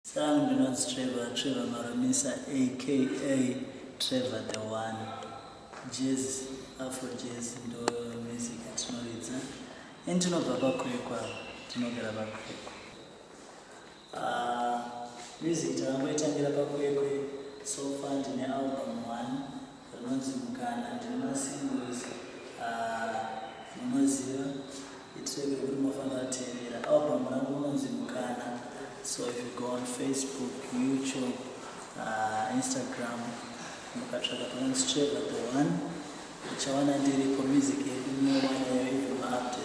Sir ndinonzi Trevor Trevor Marumisa aka Trevor the one Jazz Afro Jazz ndo music yatinoridza and tinobva paKwekwa tinogara paKwekwa uh, music takangoitangira paKwekwe so far ndine album one Rinonzi mukana ndine masingo ese aah munoziva i track rekuti munofanira kuteerera. Album rangu rinonzi mukana so if you go on Facebook, YouTube, aah Instagram mukatsvaga panonzi Trevor the one muchawana ndiripo music yedu munowana yayo even ma updates.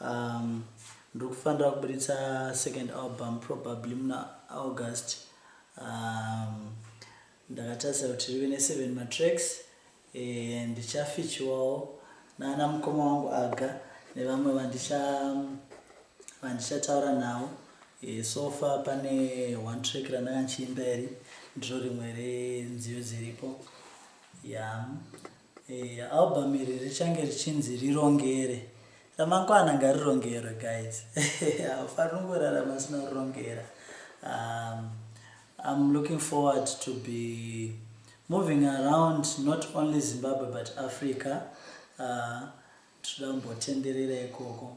Umm ndiri kufanira kuburitsa second album probably muna August umm ndakatarisa kuti rive ne seven ma tracks eeh ndichafeaturewawo nana mukoma wangu Aga nevamwe vandicha vandichataura navo eeh so far pane one track randanga ndichiimba iri ndiro rimwe renziyo dziripo yeah. Eya album iri richange richinzi rirongere ramangwana ngarirongerwe guys haufaniri kungorarama usina kurongera um, I'm looking forward to be moving around not only Zimbabwe but Africa uh, tinoda kumbotenderera ikoko